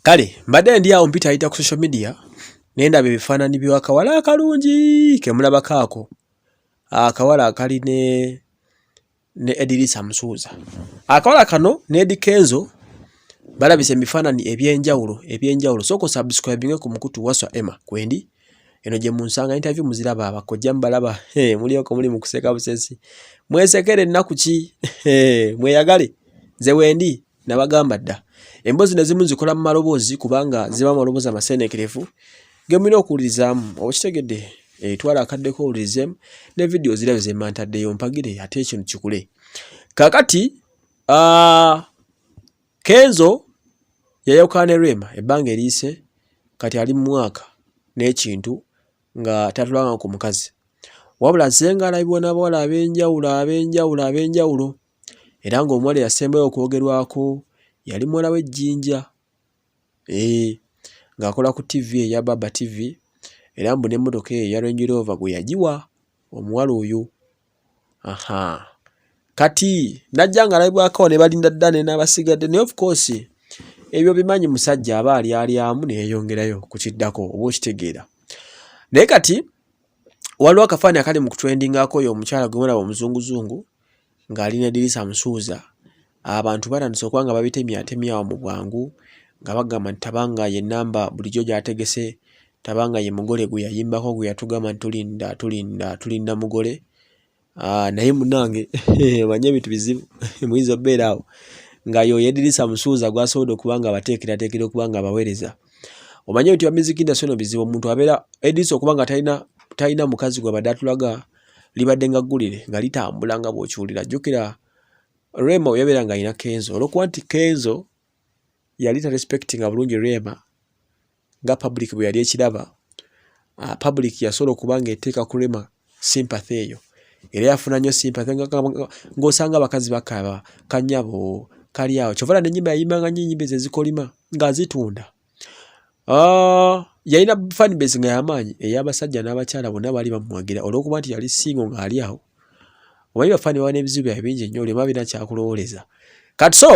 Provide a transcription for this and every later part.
kale mbadde ndi awo mpita ayita ku social media naye ndaba ebifaanani byakawala akalungi kemulabako ako akawala akali ne ne Edirisa Musuuza. Akawala kano ne Eddy Kenzo balabise emifaananyi eby'enjawulo eby'enjawulo sooka osubscribinge ku mukutu waswa emma kwendi eno gye munsanga interview muziraba abakojja mubalaba mulioko muli mu kuseka busesi mwesekere ennaku ki mweyagale nze wendi nabagamba dda emboozi nezimu nzikola mu maloboozi kubanga ziba amaloboozi amaseenekerevu gemulina okuwulirizaamu okitegedde eh, twala akaddeko owulirizemu ne vidiyo zirabe zemantaddeyo mpagire ate ekintu kikule kakati ah, kenzo yayawukana ne rema ebbanga eriise kati ali mu mwaka n'ekintu nga tatulanga ku mukazi wabula azenga alabibwa n'abawala ab'enjawulo ab'enjawulo ab'enjawulo era ng'omuwala eyasembayo okwogerwako yali muwala w'e Jinja ee eh, ng'akola ku TV eya Baba TV era mbu n'emmotoka eyo eya Range Rover gwe yagiwa omuwala oyo aha kati najja ng'alabibwako ne balinda dda ne n'abasigadde naye of course ebyo bimanyi musajja aba alyalyamu ne yeeyongerayo ku kiddako oba okitegeera naye kati waliwo akafaani akali mu kutwendingaako oyo omukyala gwe mulaba omuzunguzungu ng'ali ne Dirisa Musuuza, abantu batandise okuba nga babitemyatemya awo mu bwangu nga bagamba nti Tabanga ye nnamba bulijjo gy'ategese, Tabanga ye mugole gwe yayimbako gwe yatugamba nti tulinda tulinda tulinda mugole. Ah, naye munange manye ebintu bizibu muyinza obeera awo nga yoyo Edirisa Musuuza gwasobodde okuba nga abateekerateekera okuba nga abaweereza. Omanye nti bamiziki nda sono bizibu omuntu abeera Edirisa okuba nga talina talina mukazi gwabadde atulaga libadde nga ggulire nga litambula nga bw'okiwulira jjukira rema weyabeera nga alina kenzo olwokuba nti kenzo yali tarespectinga bulungi rema nga public bwe yali ekiraba ah, public yasobola okuba nga eteeka ku rema sympathy eyo era yafuna nnyo sympathy ng'osanga abakazi bakaba kanyabo kali awo kyovala nenyimba yayimbanga nyo enyimba ezo ezikolima ng'azitunda Ah, yalina fan base nga yamaanyi ey'abasajja n'abakyala bonna baali bamuwagira olw'okuba nti yali singo ng'ali awo omanyi bafaani baba n'ebizibu byabe bingi nnyo olema birina kyakulowooleza kati so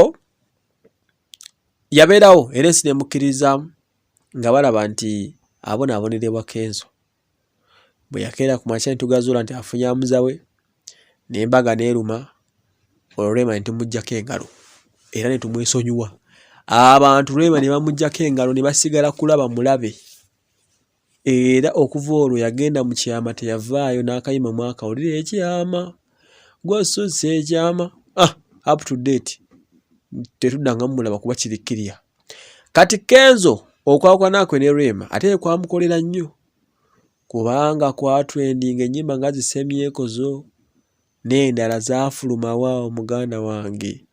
yabeerawo era ensi nemukkiririzaamu nga balaba nti abonaabonerwa kenzo bwe yakeera ku makya ne tugazuula nti afunye amuza we n'embaga n'eruma olwo Rema ne tumuggyako engalo era ne tumwesonyiwa abantu Rema ne bamuggyako engalo ne basigala kulaba mulabe era okuva olwo yagenda mu kyama teyavaayo n'akayima mwakawulira ekyama. gwasusse ekyama ah, up to date tetudanga mumulaba kuba kiri kiriya kati kenzo okwawukanakwe ne rema ate kwamukolera nnyo kubanga kwatwendinga ennyimba nga zisemyekozo n'endala zaafulumawa omuganda wange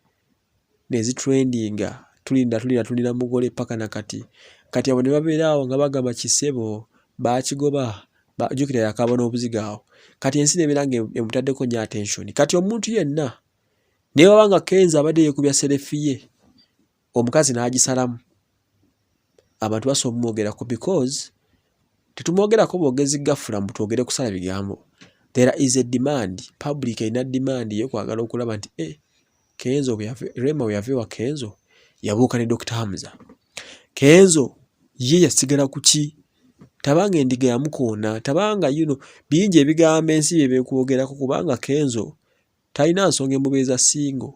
nezitrendinga tulinda tulinda tulina mugole paka nakati kati abo nebabeera awo nga bagamba kisebo bakigoba jukira yakaba n'obuziga awo kati ensi nebeera nga emutaddeko nyo attention kati omuntu yenna newaba nga kenza abadde yekubya serefiye omukazi n'agisalamu abantu basobola omumwogerako because tetumwogerako bwogezi gafula mbu twogere kusala bigambo there is a demand public erina demand yekwagala okulaba nti e eh, Kenzo bwe yave Rema bwe yave wa Kenzo yabuuka ne Dr. Hamza. Kenzo ye yasigala ku ki? Tabanga endiga yamukoona, tabanga you know bingi ebigambo ensi bye bikwogerako kubanga Kenzo talina nsonga emubeeza singo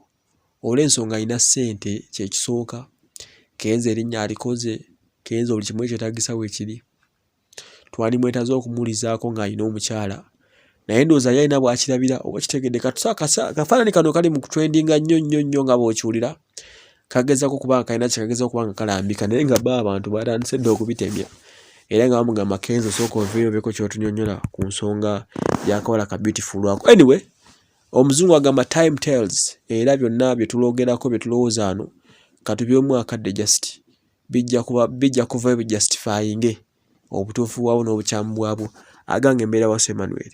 olw'ensonga alina ssente kye kisooka. Kenzo erinnya alikoze, Kenzo buli kimu ekyetaagisa weekiri. twali mwetaze okumulizaako ng'alina omukyala naye ndowooza yali alina bwakirabira oba kitegedde kafaanani kano kali mu kutwendinga nnyo nnyo nnyo nga bw'okiwulira kagezako kuba nga kalina kyekagezako kuba nga kalambika naye nga ba abantu batandise dda okubitemya era nga bamugamba kenzo sooka oveeyo obeeko kyotunyonyola ku nsonga yakawala ka beautiful lwako anyway omuzungu agamba time tells era byonna byetuloogerako byetulowooza ano katubyemu akadde just bijja kuba bijja kuvayo bi justifyinge obutuufu bwabwo n'obukyamu bwabwo agange mbeera wasu emmanuel